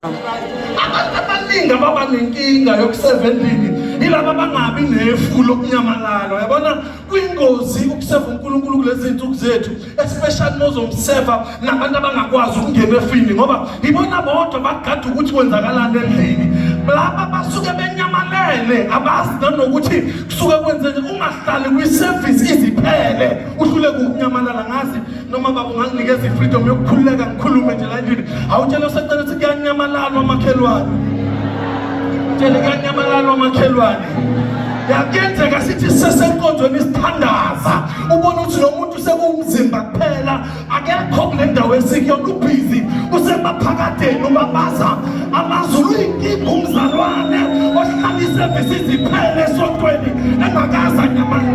abantu abaningi ababa nenkinga yokuseva endlini yilaba abangabi nefu lokunyamalala uyabona kwingozi ukuseva unkulunkulu kulezi zinsuku zethu especially mozomseva nabantu abangakwazi ukungena efini ngoba yibona bodwa bagada ukuthi kwenzakalani endlini laba basuke benyamalele abazi nanokuthi kusuke kwenzeke ungahlali kwisevisi iziphele uhluleke ukunyamalala ngazi noma baba unganginikeza i-freedom yokukhululeka ngikhulume nje la endlini awutshele usacela ukuthi kuyanyamalala omakhelwane tshele kuyanyamalala omakhelwane yakuyenzeka sithi sesenkonzweni isithandaza ubona ukuthi lo muntu sekuwumzimba kuphela akekho kule ndawo esikuyona ubhizi usemaphakadeni ubabaza amazulu uyinkinga umzalwane ohlala isevisi iziphele esontweni engakaza nyamana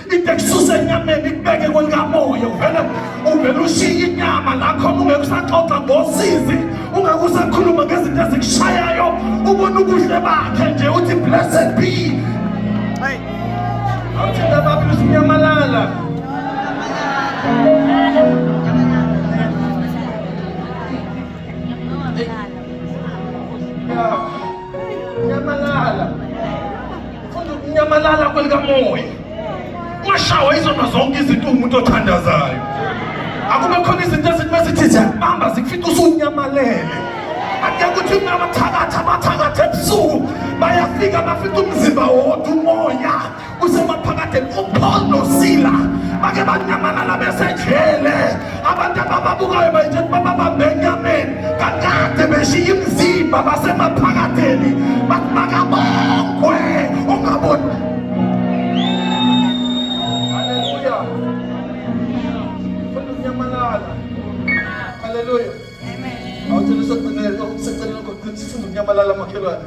into ekususa enyameni ikubeke kwelikamoya uvele uvele ushiye inyama lakhona ungeke usaxoxa ngosizi ungeke usakhuluma ngezinto ezikushayayo ubona ubuhle bakhe nje uthi blessed be awuthinda babili usinyamalala Yeah. Nyamalala. Ufunda ukunyamalala kwelikamoya. Ungashawa izona zonke izinto umuntu othandazayo. Akube khona izinto ezithi mesithi ziyakubamba zikufica usunyamalele. Ake kuthi abathakathi abathakathi ebusuku bayafika bafica umzimba wodwa umoya. kusemaphakadeni uPaul noSila bake banyamalala besejele abantu abababukayo bayitshela ukuba babambe enyameni kakade beshiya imizimba basemaphakadeni bathi makabongwe ungaboni Awuthanda usaceleni okuseceleni kodwa sifuna ukunyamalala makhelwane.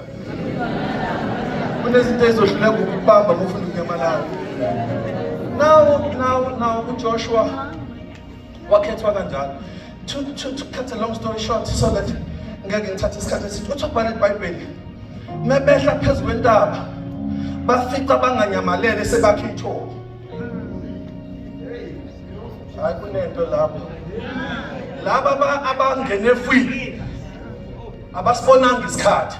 Kunezinto ezohluleka ukubamba mufuna ukunyamalala. Now now now uJoshua wakhethwa kanjalo. To to to cut a long story short so that ngeke ngithathe isikhathi esithi uthi ubhala iBhayibheli. Mebehla phezu kwentaba bafica banganyamalele sebakhe ithole. hayi kunento lapho laba abangene fwini abasibonanga isikhathi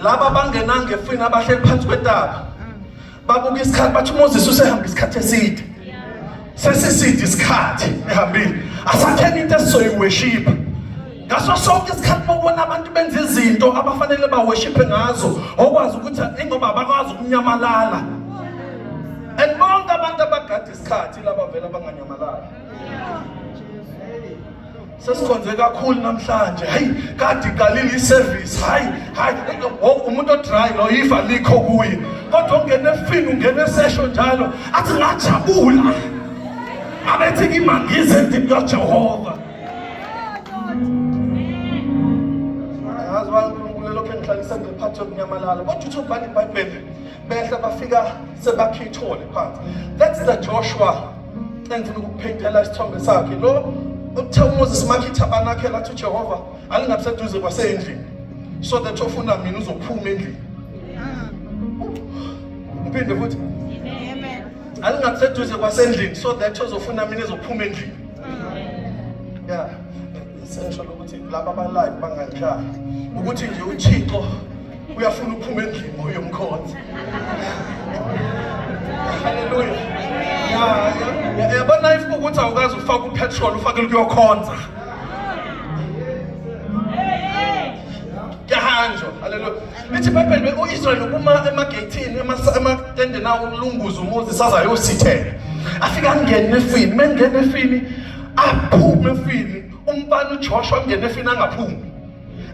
laba abangenanga efwini abahleli phansi kwetaba babuka isikhathi bathi uMoses usehamba isikhathi eside sesiside isikhathi ehambile asatheni into esizoyiweshipa ngaso sonke isikhathi bobona abantu benza izinto abafanele baweshiphe ngazo okwazi ukuthi ingoba abakwazi ukunyamalala and bonke abantu abagade isikhathi laba vela banganyamalali sesikhonze kakhulu namhlanje hayi kade iqalile iservice hayi hayi umuntu odry lo ifa likho kuye kodwa ungena efini ungena esesho njalo athi ngajabula abethi ngimangize endini kajehova yazi wankulunkulu elokhu engihlalisa ngephathe yokunyamalala kodwa uthi ubhala ibhayibheli behla bafika sebakhithole phansi that's the Joshua engifuna ukuphindela isithombe sakhe lo uthe uMoses makhitha banakhe lathi uJehova alingabuseduze kwasendlini so that ofuna mina uzophuma endlini ngiphinde futhi amen alingabuseduze kwasendlini so that ozofuna mina ezophuma endlini yeah Sengisho ukuthi laba abalive banganjani ukuthi nje uThixo uyafuna uphuma endlini oyomkhonzi. Haleluya. Yabona if ukuthi awukazi ufaka upetrol ufake ukuyokhonza. Yahanjwa. Haleluya. Lithi iBhayibheli uIsrael ukuma emageyithini ematendeni awo ukulunguza umuzi sazayosithela. Afika angene efini, mengene efini aphume efini umfana uJoshua ungene efini angaphumi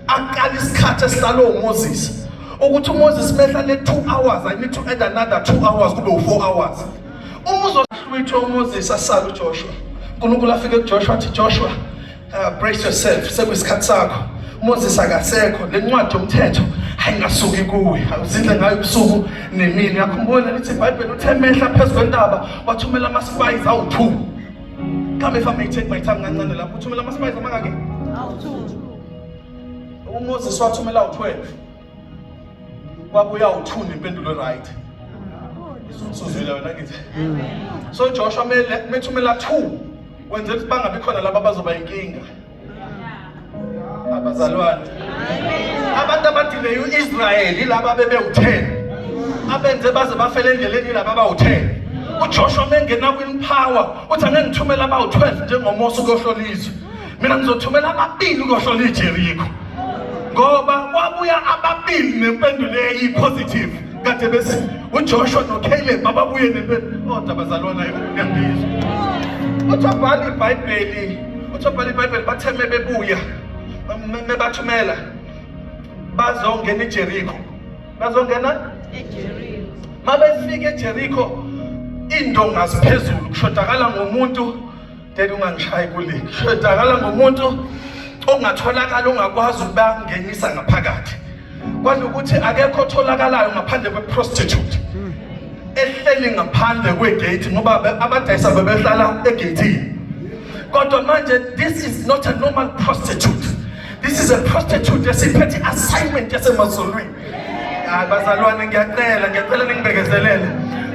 aqala isikhathi esihlalo uMoses ukuthi uMoses mehla le 2 hours i need to add another 2 hours kube u4 hours uma uzohlwitha uMoses asala uJoshua uNkulunkulu afike kuJoshua athi Joshua uh, brace yourself sekuyisikhathi sakho Moses akasekho lencwadi yomthetho ayingasuki kuwe awuzindle ngayo ubusuku nemini yakhumbula lithi iBhayibheli uthe mehla phezulu kwentaba wathumela ama spies awu2 Come if I may take my time kancane lapho uthumela ama spice amangaki? Awu2. UMoses wathumela u12. Kwabuya u2 nempendulo right. Isuzwile wena ngithi. So Joshua mele methumela 2 wenzela ukuthi bangabi khona laba bazoba inkinga. abazalwane abantu abadileye u-israyeli laba bebewutheni abenze baze bafele endleleni laba abawutheni ujoshua mengena kwinpower uthi angeke ngithumele abawu-12 njengomosa ukohlola izwe mina ngizothumela ababili ukohlola ijerikho ngoba kwabuya ababili nempendulo eyipositive kade bese uJoshua noCaleb ababuye nempela oh, kodwa bazalwana yokuyangizwa uthiwa bhala ibhayibheli uthiwa bhala ibhayibheli bathe mebebuya mebathumela bazongena ijeriko bazongena mabefika ejeriko iy'ndonga ziphezulu kushodakala ngomuntu Dede ungangishayi kule. Shedakala ngomuntu ongatholakala ongakwazi ukuba ngenisa ngaphakathi. Kwanokuthi akekho otholakalayo ngaphandle kwe prostitute. Ehleli ngaphandle kwe gate ngoba abadayisa bebehlala e gate. Kodwa manje this is not a normal prostitute. This is a prostitute esiphethe assignment yasemazulwini. Hayi bazalwane ngiyacela ngiyacela ningibekezelele.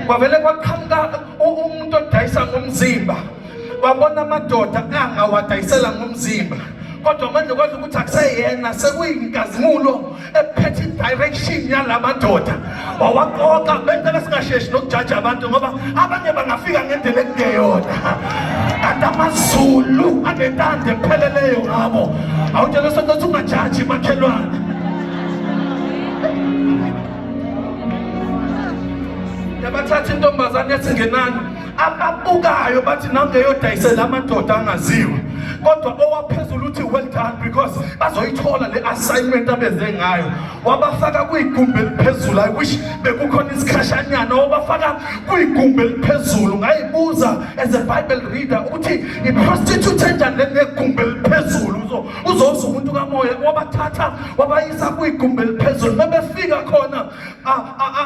Kwavele kwaqhamuka umuntu odayisa ngomzimba wabona amadoda angawadayisela ngomzimba kodwa manje kwazi ukuthi akuseyena sekuyinkazimulo ephethe i-direction yala madoda wawaqoqa bentela singasheshi nokujaja abantu ngoba abanye bangafika ngendlela ekungeyona kanti amazulu anentando epheleleyo ngabo awutshela sokuthi ungajaji makhelwane yabathatha intombazane esingenani ababukayo bathi nangeyodayisela amadoda angaziwe kodwa owaphezulu uthi well done because bazoyithola le assignment abeze ngayo wabafaka kwigumbi eliphezulu i wish bekukhona isikhashanyana wabafaka kwigumbi eliphezulu ngayibuza as a bible reader ukuthi iprostitute enjani le negumbi eliphezulu uzoza umuntu kamoya wabathatha wabayisa kwigumbi eliphezulu mebefika khona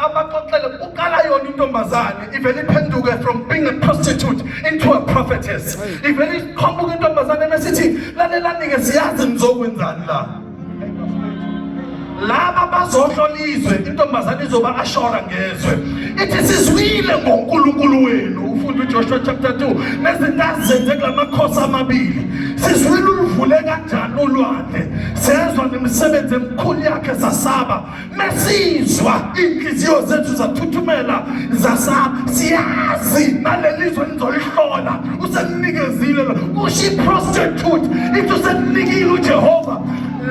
abaxoxele uqala yona intombazane ivele iphenduke from being a prostitute into a prophetess ivele iqhamuka intombazane mesithi lalelani-ke siyazi nizokwenzani la laba bazohlola izwe intombazane izoba ashora ngezwe ithi sizwile ngonkulunkulu wenu ufunda ujoshua chapter 2 nezinto azenze kula makhosi amabili sizwile uluvule kanjani ulwandle sezwa nemisebenzi emikhulu yakhe zasaba mesizwa iinhliziyo zethu zathuthumela zasaba siyazi naleli zwe nizolihlola usemnikezile kusho iprostitute ithi usemnikile ujehova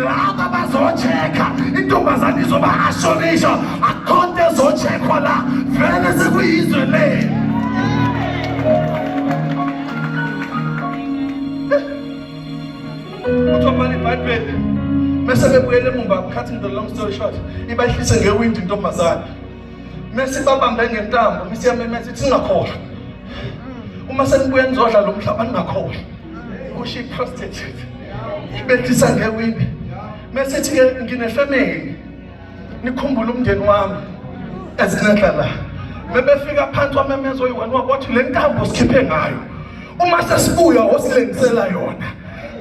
laba bazocheka intombazane izoba ashonisha akhonto ezochekhwa la vele sekuyizwe le uthobhala ibhayibheli mese bebuyele emumva cutting the long story short ibahlise ngewindi intombazane mese babambe ngentambo mese yamemeza ithi singakhohlwa uma senibuye nizodla lo mhlaba ningakhohlwa kusho i-prostitute ibethisa ngewindi mesethi ke nginefamily nikhumbule umndeni wami ezenhla la mebefika phansi kwamemeza oyi-one wabothi le ntambo sikhiphe ngayo uma sesibuya osilengisela yona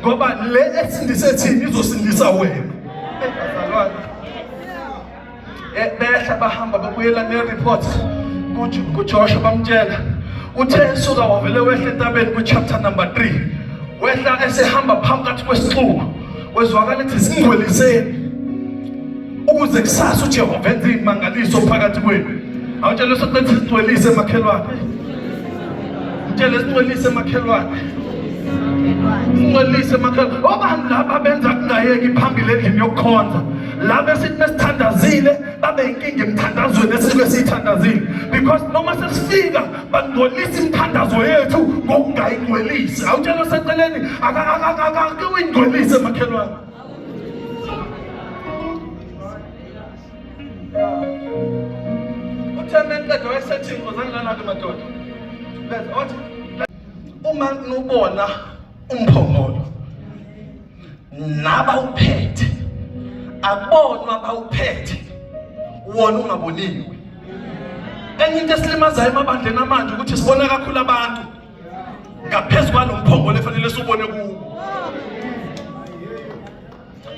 ngoba le esindise thini izosindisa wena Eh, behla bahamba babuyela ne-report kujoshua bamtshela uthe esuka wavele wehla entabeni kwichapter number 3 wehla esehamba phakathi kwesixuku wezwakala ethi zingcweliseni ukuze kusasa ujehova enze imangaliso phakathi kwenu awutshele sokuthi singcwelise makhelwane mtshele singcwelise makhelwane singcwelise makhelwane obani laba benza kungayeki phambili endlini yokukhonza labo esithi mesithandazile babe inkinga emthandazweni esisuke siyithandazile because noma sesifika bangcolisa imithandazo yethu ngokungayingcwelisi awutshela seceleni akake uyingcwelise makhelwane uthe mencedo wayesethi ngozani lana-ke madoda beza wathi uma nubona umphongolo nabawuphethe akubonwa abawuphethe wona ungaboniwe enye into esilimazayo emabandleni amanje ukuthi sibona kakhulu abantu ngaphezu kwalo mphongolo efanele siwubone kuwo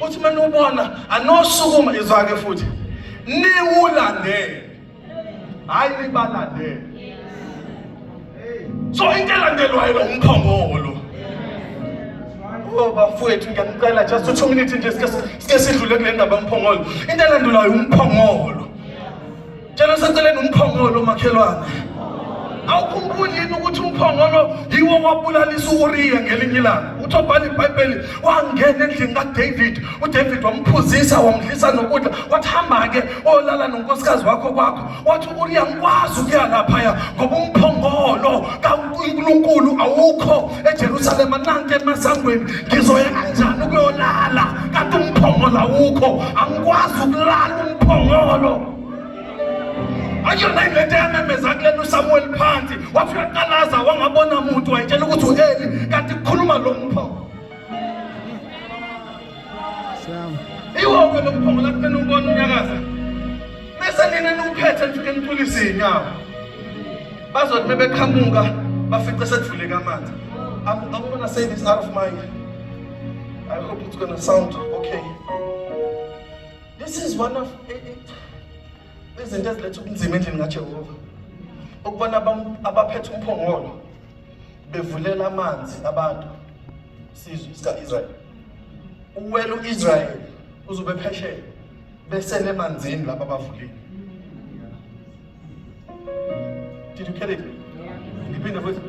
uthi uma niwubona anosukuma izwake futhi niwulandele hayi libalandele so into elandelwayo lo umphongolo Oh bafowethu ngiyanicela just two minutes nje sike sike sidlule kule ndaba yomphongolo. Into elandelayo umphongolo. Tshela seceleni umphongolo makhelwane. Awukhumbuli yini ukuthi umphongolo yiwo wabulalisa uUriya ngelinye ilanga? Uthi obhala iBhayibheli wangena endlini kaDavid uDavid wamphuzisa wamdlisa nokudla wathi hamba-ke olala nonkosikazi wakho kwakho wathi uuriya ngikwazi ukuya laphaya ngoba umphongolo kankulunkulu awukho ejerusalema nanti emasangweni ngizoya kanjani ukuyolala kanti umphongolo awukho angikwazi ukulala umphongolo akuyona ingento eyamemeza kulena usamuweli phansi wathi uyaqalaza wangabona muntu wayitshela ukuthi u-eli kanti kukhuluma lo mphongolo Iwoko lokuphongola kufena ubona unyakaza. Mese nina niwuphethe nifike nicula izinyawo. Bazothi bebeqhamuka bafice sedvuleka amanzi. I'm, I'm gonna say this out of mind. I hope it's gonna sound okay. This is one of eh, eh, izinto eziletha ubunzima endlini kaJehova. Ukubona abaphethe umphongolo bevulela amanzi abantu sizwe sika-israyeli uwela u-israyeli uzobe phesheya besele emanzini laba abavulile did you get it ngiphinde futhi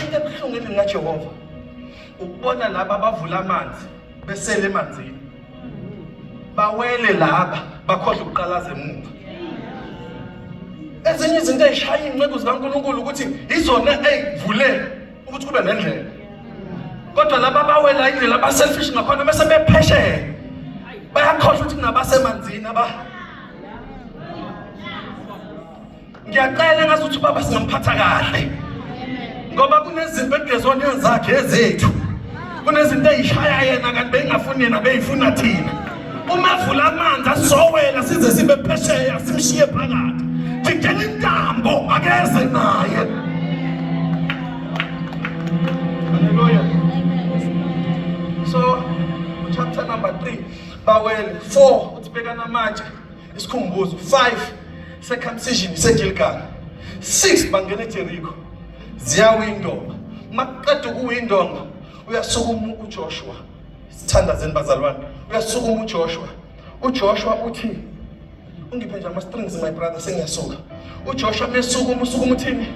into ebuhlungu endingajehova ukubona laba abavula amanzi besele emanzini bawele laba bakhohle ukuqalaza emuva ezinye izinto ezishaya iy'nceku zikankulunkulu ukuthi izona ey'vulela ukuthi kube nendlela kodwa laba bawela indlela abaselfish ngakhona bese bephesheya bayakhohlwa ukuthi kunabasemanzini aba ngiyacela ngazi ukuthi ubaba singamphatha kahle ngoba kunezinto ekugezwaneni zakhe ezethu kunezinto eyishaya yena kanti beyingafuni yena beyifuna thina uma evula amanzi asowela size sibe phesheya simshiye phakathi thidela intambo akeze naye haleluya so chapter number 3 bawele 4 uthi bekana manje isikhumbuzo 5 circumcision isegilgal 6 bangena ejeriko ziyawindonga makuqeda ukuwindonga uyasukuma ujoshua sithandazeni bazalwane uyasukuma ujoshua ujoshua uthi ungiphe nje ama-strings my brother sengiyasuka uJoshua mesukuma usukuma uthini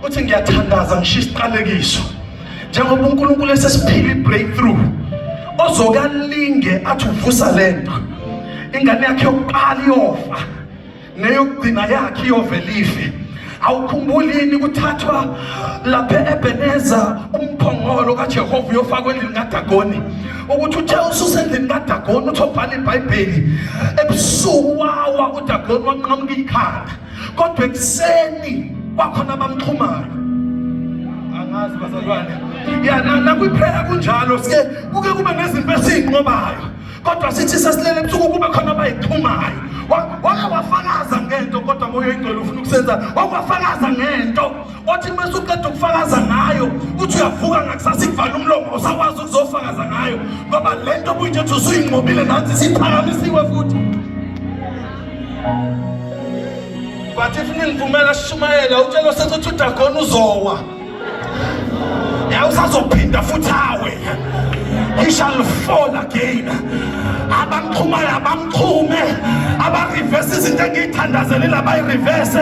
uthi ngiyathandaza ngishiya isiqalekiso njengoba uNkulunkulu esesiphila ibreakthrough ozokalinge athi uvusa lento ingane yakhe yokuqala iyofa neyokugcina yakhe iyovelife awukhumbulini kuthathwa lapha ebeneza umphongolo kajehova uyofakwa endlini kadagoni ukuthi uthe ususendlini kadagoni uthi obhala ibhayibheli ebusuku wawa udagoni wanqamuka ikhanda kodwa ekuseni kwakhona abamxhumayo angazi bazalwane ya nakwiphela kunjalo sike kuke kube nezinto esiyinqobayo kodwa sithi sesilele ebusuku kube khona abayixhumayo wake wafakaza ngento kodwa moya oyingcwele ufuna ukusenza wake wafakaza ngento othi uma usuqeda ukufakaza ngayo uthi uyavuka ngakusasa ikuvala umlomo usakwazi ukuzofakaza ngayo ngoba le nto obuyinje ukuthi usuyinqobile nansi siphakamisiwe futhi but if ningivumela sishumayela utshelo sethi uthi udagona uzowa yawusazophinda futhi awe he shall fall again abamxhumayo abamxhume abarivese izinto engiyithandazelile abayireverse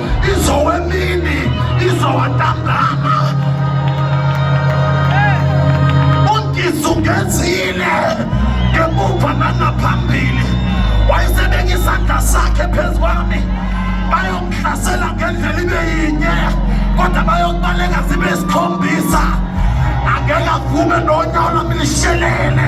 izowemini izowantambama ungizungezile ngemuva nangaphambili wayesebeka isandla sakhe phezu kwami bayongihlasela ngendlela ibe yinye kodwa bayokubaleka zibe sikhombisa angeke avume nonyawo lami lishelele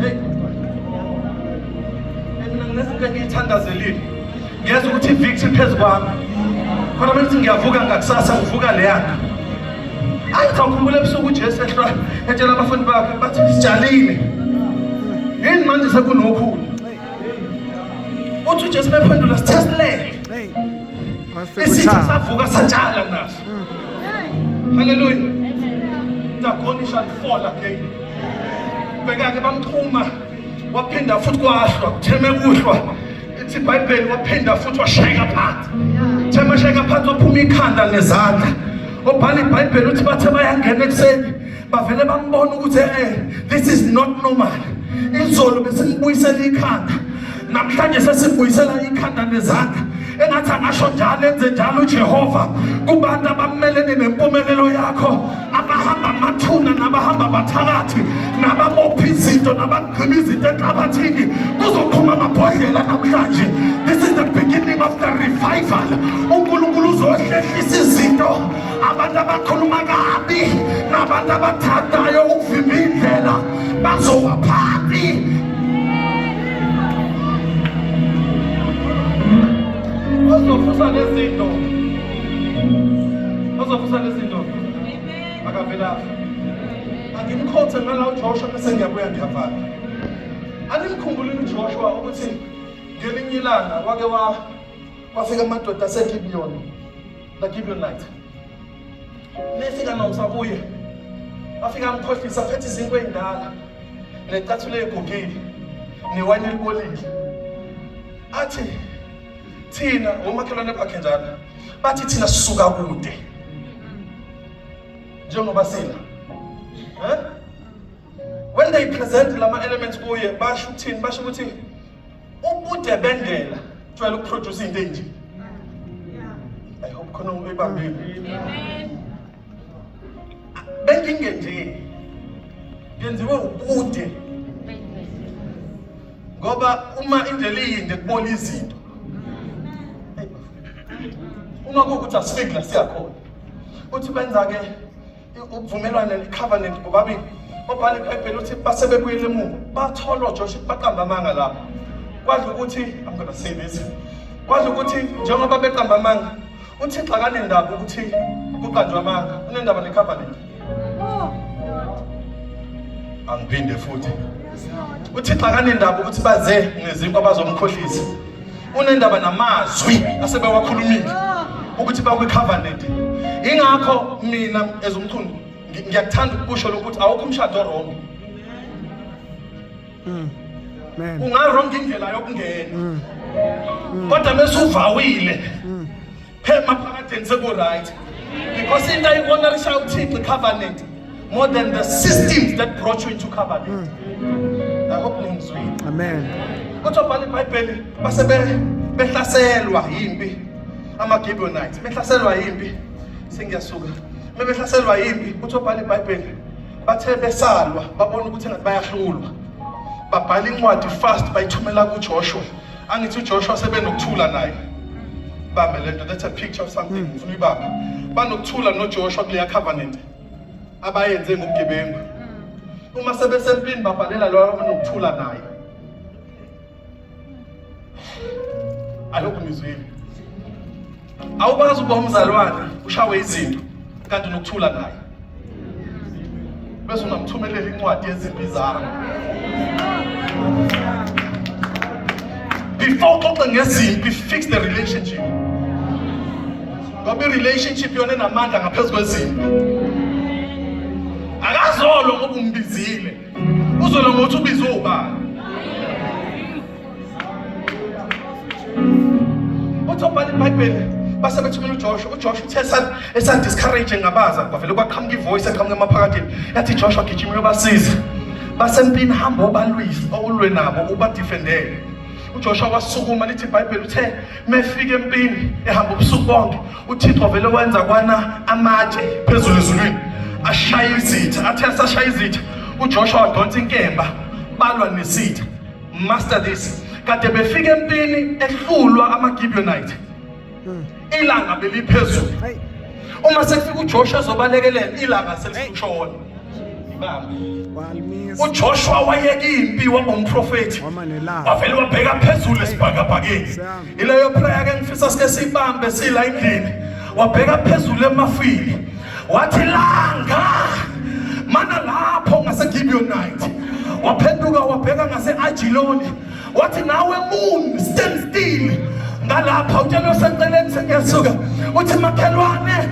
Hey. Mina nginezinto engiyithandazelile. Ngiyeza ukuthi victory phezu kwami. Kodwa manje ngiyavuka ngakusasa ngivuka leyana. Ayi ngizawukhumbula ebusuku uJesu ehlwa etshela abafundi bakhe bathi sijalile. Yini manje sekunokhulu? Uthi uJesu bephendula sithe silele. Isitha savuka satshala naso. Hallelujah. Dagoni shall fall again. Bheka-ke bamxhuma waphinda futhi kwahlwa kutheme kuhlwa ithi ibhayibheli waphinda futhi washayeka phansi theme shayeka phansi waphuma ikhanda ngezandla obhala ibhayibheli uthi bathe bayangena ekuseni bavele bambona ukuthi eh this is not normal izolo besimbuyisela ikhanda namhlanje sesibuyisela ikhanda nezandla engathi angasho njalo enze njalo ujehova kubantu abamelene nempumelelo yakho abahamba amathuna nabahamba abathakathi nababopha izinto nabagqiba izinto enhlabathini kuzoqhuma amabhodlela namhlanje this is the beginning of the revival unkulunkulu uzohlehlisa izinto abantu abakhuluma kabi nabantu abathandayo ukuvimba indlela bazowa phansi ozofusa lezinto ozofusa lezinto akavelaphi angimkhothe ngala ujoshua bese ngiyabuya ngiyavala animkhumbulile ujoshua ukuthi ngelinye ilanga wake wafika amadoda asegibiyoni Ngagibela night. Nefika nomsa kuye. Afika amkhohlisa phethe izinto endala. Necathule egugile. Newayini elibolile. Athi thina ngomakhelwane bakhe njalo bathi thina sisuka kude njengoba sina eh when they present lama elements kuye basho ukuthini basho ukuthi ubude bendlela jwayele ukuproduce into enje i hope khona uyibambile benkinge nje yenziwe ubude ngoba uma indlela iyinde kubona izinto uma kuwukuthi asifiki la siyakhona uthi benza-ke ubuvumelwane covenant bobabili obhala ibhayibheli uthi base bebuyele emuva bathola ojosha baqamba amanga lapho kwadla ukuthi i'm gonna say this kwadla ukuthi njengoba beqamba amanga uthixo akanendaba ukuthi kuqanjwa amanga unendaba necovenant angiphinde futhi uthixo akanendaba ukuthi baze ngezinkwa bazomkhohlisa unendaba namazwi asebewakhulumile ukuthi bakwicovenant ingakho mina as umchunu ngiyakuthanda ukusho lokuthi awukho umshado wrong hmm. ungarong indlela yokungena hmm. kodwa mesuvawile hmm. phema phakadeni sekuright because into ayibona lishaya uthixo icovenant more than the systems that brought you into covenant mm. i hope ningizwile amen kodwa bhala ibhayibheli base behlaselwa yimpi ama-gibeonites behlaselwa yimpi sengiyasuka mebehlaselwa yimpi uthi obhala ibhayibheli bathe besalwa babona ukuthi engathi bayahlulwa babhala incwadi fast bayithumela kujoshua angithi uJoshua sebenokuthula naye bambe lento that's a picture of something hmm. ngifuna ibaba banokuthula noJoshua kuleya covenant abayenze ngobugebengu hmm. uma sebesempini babhalela loyo abanokuthula naye alokhu ngizwile awukwazi ukuba umzalwane ushawe izinto kanti unokuthula naye bese ungamthumelela incwadi yezimpi zakho before uxoxe ngezimpi fix the relationship ngoba i-relationship yona enamandla ngaphezu kwezimpi akazolo ngoba umbizile uzolo ngokuthi ubize ubani uthi obhala ibhayibheli base bethumela ujoshua ujoshua uthe esadiscourage ngabaza kwavele kwaqhamuka ivoice eqhamuka emaphakathini yathi joshua gijima uyobasiza basempini hamba obalwise owulwe nabo ubadifendele uJoshua wasukuma lithi iBhayibheli uthe mefika empini ehamba ubusuku bonke uThixo vele wenza kwana amatshe phezulu ezulwini ashaya izitha athe asashaya izitha uJoshua wadonsa inkemba balwa nesitha Master this. Kade befika empini ehlulwa amaGibeonite. Hmm. Ilanga beliphezulu. Uma sekufika uJoshua ezobalekelela ilanga selishona. ujoshua wayeka impi waba umprofethi wavele wabheka phezulu esibhakabhakeni ileyo prayer ke ngifisa sike siyibambe sila endlini wabheka phezulu emafini wathi langa mana lapho ngaseGibeonite waphenduka wabheka ngaseAjiloni wathi nawe moon stand still ngalapha utshelwe seceleni sengiyasuka uthi makhelwane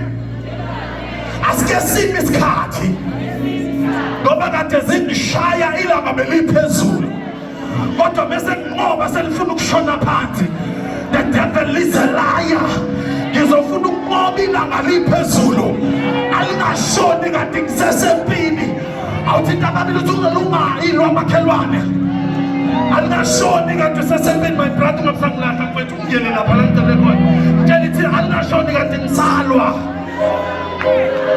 asike simi isikhathi ngoba kade zingishaya ilanga beliphezulu kodwa bese nqoba selifuna ukushona phansi the devil is a liar ngizofuna ukunqoba ilanga liphezulu alingashoni kanti ngisesempini awuthi ntababili uthi uzolungayi lwamakhelwane alingashoni kanti usesempini my brother ungamsangilahla mfethu ungiyele lapha langicelekona mtshela ithi alingashoni kanti ngisalwa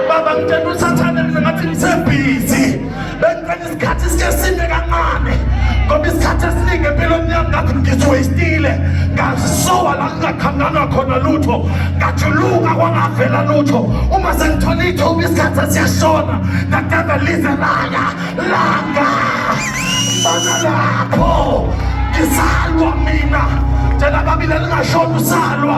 baba ngitshela usathane mina ngathi ngisebhizi bengicela isikhathi sike sime kancane ngoba isikhathi esiningi empilweni yami ngathi ngisiwastile ngazisowa la ngingakhanganwa khona lutho ngajuluka kwangavela lutho uma sengithola ithuba isikhathi esiyashona ngagada lize laya langa bana lapho ngisalwa mina tshela babile lingashona usalwa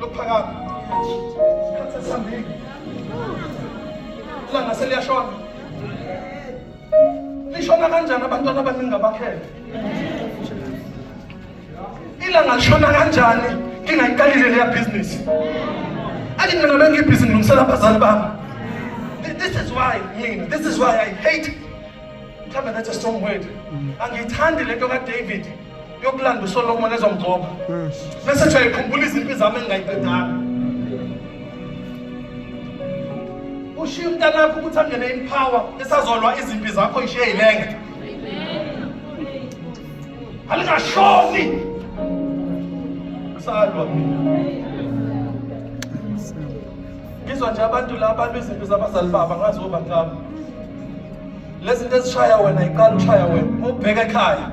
Lokuphakama. Isikhathi sesihambile. Ilanga seliyashona. Lishona kanjani abantwana abaningi abakhele? Ilanga lishona kanjani ngingayiqalile leya business? Athi mina bengibhizi ngilungisela abazali bami. This is why mina, this is why I hate. Mhlawumbe that's a strong word. Angiyithandi lento kaDavid. yokulanda uSolomon ezomgcoba hmm. bese nje ayikhumbula izimpi zami engingayiqedanga ushiya umntanakho ukuthi angene impower esazolwa izimpi zakho ishiye yilenge alingashoni kusalwa ngizwa nje abantu la abantu izimpi zabazali baba ngazi oba ngabo lezi zinto ezishaya wena iqala ushaya wena ubheke ekhaya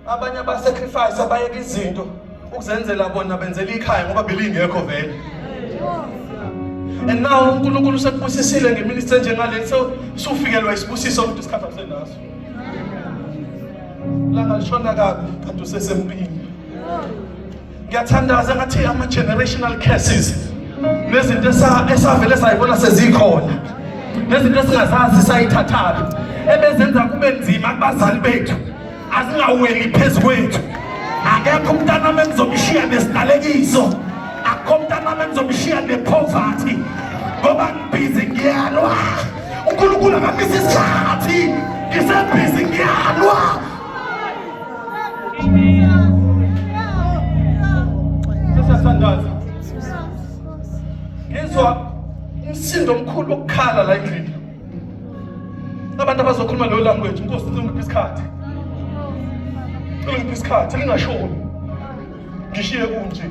abanye abasacrifice abayeka izinto ukuzenzela bona benzela ikhaya ngoba belingekho vele and now uNkulunkulu usekubusisile ngeminister enjengale so sufikelwa isibusiso ukuthi isikhathi akusenaso langa lishona kabi kanti usesempini ngiyathandaza ngathi ama-generational curses nezinto esavele sayibona sezikhona nezinto esingazazi sayithathaphi ebezenza kube nzima kubazali bethu azingaweli phezu kwethu akekho umntanami engizomshiya nesinalekiso akho umntanami engizomshiya nephovathi ngoba ngibhizi ngiyalwa unkulunkulu akabisa isikhathi ngisebhizi ngiyalwa Sasa sandaza. Ngizwa umsindo omkhulu okukhala la endlini. Abantu abazokhuluma leyo language, inkosi ngiphi isikhathi. Ngiphi isikhathi lingashoni. Ngishiye kunje.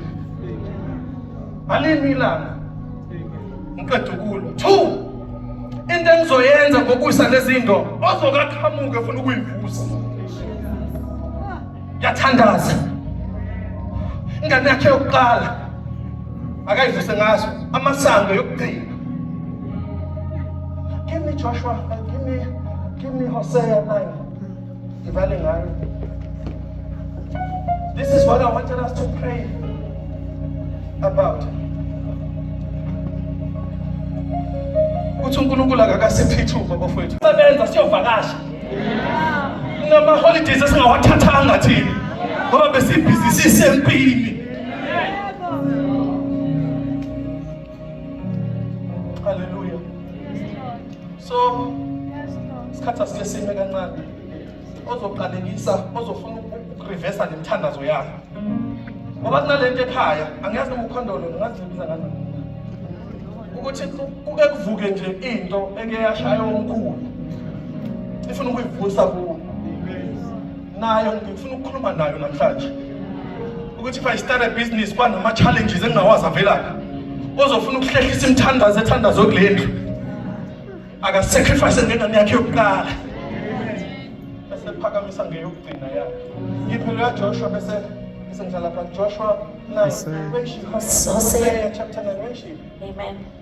ngalini ilanga ngiqeda ukulwa two into engizoyenza ngokusa lezinto ozokaqhamuke funa ukuyivusa yathandaza ingane yakhe yokuqala akayivuse ngaso amasango yokugcina give me joshua give me give me hosea 9 Ngivale ngayo. This is what I wanted us to pray about. Uthi uNkulunkulu akakasiphi ithuba bafowethu. Sebenza siyovakasha. Nama holidays esingawathathanga thina. Ngoba besibhizi sisempini. so isikhathi asike sime kancane ozoqalekisa ozofuna ukurivesa le mithandazo yakho ngoba kunale nto ekhaya angiyazi noma ukhondolo ngazi ngibiza kanjani ukuthi kuke kuvuke nje into eke yashaya omkhulu ifuna ukuyivusa kuwo nayo ngifuna ukukhuluma nayo namhlanje ukuthi if i start a business kwanama-challenges engingawazi avelaphi ozofuna ukuhlehlisa imithandazo ethandazo kule ndlu akasacrifice ngengane yakhe yokuqala esephakamisa ngeyokugcina yakhe iphelo yajoshua bese esengihlala pha joshua 9 when she chapter 9 when she amen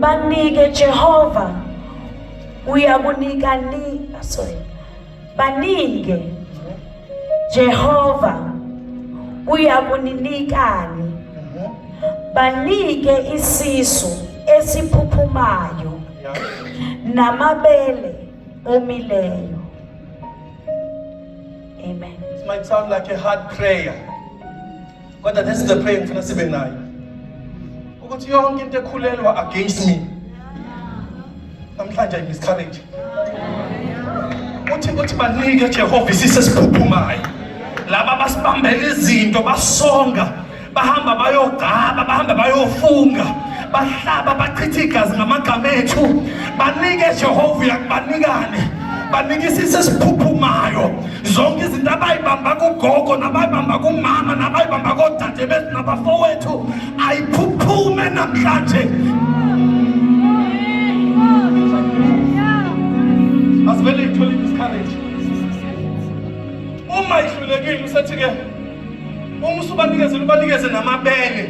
banike Jehova uyakunika ni ah, sorry baninge Jehova uyakuninikani banike isisu esiphuphumayo namabele omileyo amen it might sound like a hard prayer Kodwa this is the prayer ngifuna sibe nayo. Ukuthi yonke into ekhulelwa against me. Namhlanje I miscarriage. Uthi uthi banike Jehova isise siphuphumayo. Laba basibambela izinto basonga bahamba bayogaba bahamba bayofunga bahlaba bachitha igazi ngamagama ethu banike Jehova uyakubanikane banikisise esiphuphumayo zonke izinto abayibamba kugogo nabayibamba kumama nabayibamba kodade bethu nabafowethu ayiphuphume namhlanje asivele ithole isikhareji uma ihlulekile usethi-ke uma usubanikezela ubanikeze namabele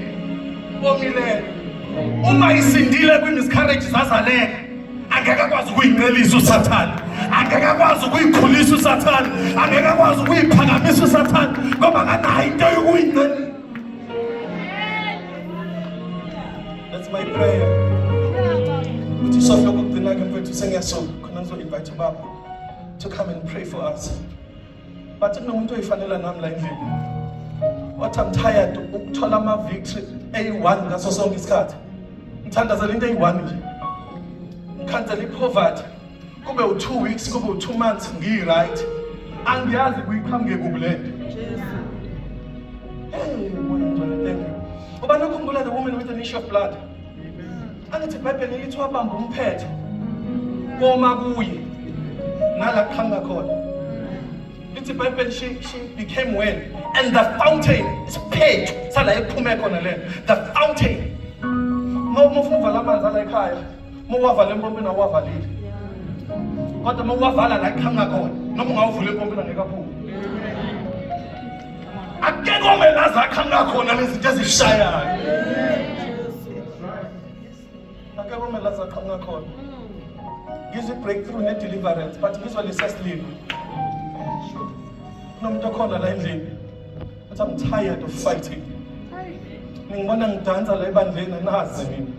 omileyo uma isindile kwi-miscarriage zazaleka angeke akwazi ukuyincelisa usathane angeke akwazi ukuyikhulisa usathane angeke akwazi ukuyiphakamisa usathane ngoba akanayo into yokuyincelisa That's my prayer. Uthi sofa ukugcina ke mfethu sengiyasoka khona ngizo invite ubaba to come and pray for us. Bathi kunomuntu oyifanela nami la endlini. What I'm tired ukuthola ama victory eyi-one ngaso sonke isikhathi. Ngithandazela into eyi-one nje. Ngikhansela i-poverty. Kube u-two weeks, kube u-two months ngiyi-right. Angiyazi kuyiqhamuke kubi le nto. Hey, Moya Ngcwele, thank you. Ubani ukhumbula the woman with an issue of blood? angithi ibhayibheli lithi wabamba umphetho koma kuye nala kuqhamuka khona lithi ibhayibheli she, she became well and the fountain isiphetho sala ephume khona le the fountain uma ufuna uvala amanzi ala ekhaya uma uwavala empompini awuwavalile kodwa uma uwavala la kuqhamuka khona noma ungawuvula empompini angeke aphume akekho wena zakha ngakhona lezinto ezishayayo akekho wena zakha ngakhona ngizwe breakthrough ne deliverance but ngizwe lesesliwe kunomuntu okhona la endlini but i'm tired of fighting ningibona ngidansa la ebandleni anazi mina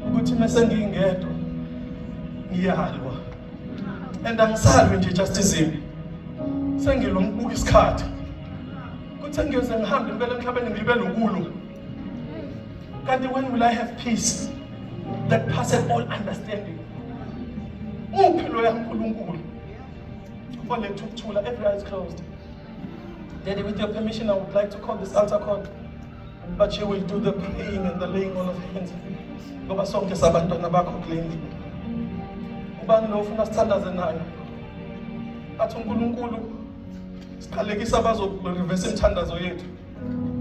ukuthi mese ngingedwa ngiyalwa and angisalwi nje just izimi sengilo ngibuka isikhathi kuthi sengiyoze ngihambe impela emhlabeni ngibe lokulu kanti when will i have peace that passeth all understanding uphi loya nkulunkulu oletha ukuthula every eye is closed daddy with your permission i would like to call this altar call But she will do the praying and the laying on of hands. Ngoba sonke sabantwana bakho kule ndlu. Ubani lo ufuna sithandaze naye? Athi uNkulunkulu siqalekisa abazoreverse imithandazo yethu.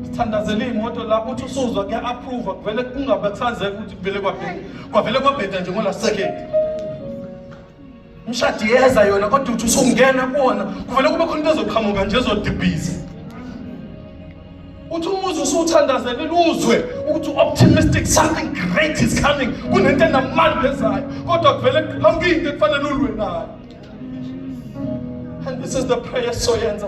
Sithandazele imoto la uthi usuzwa kuya approve kuvele kungabe kusazeka ukuthi kuvele kwabheda. Kwavele kwabheda nje ngola second. umshadi yeza yona kodwa uthi usungena kuwona kuvele kube khona into ezoqhamuka nje ezodibhiza uthi umuzi usuwuthandazele luzwe ukuthi optimistic something great is coming kunento enamandla ezayo kodwa kuvele kuqhamuke into ekufanele ulwe nayo and this is the prayer soyenza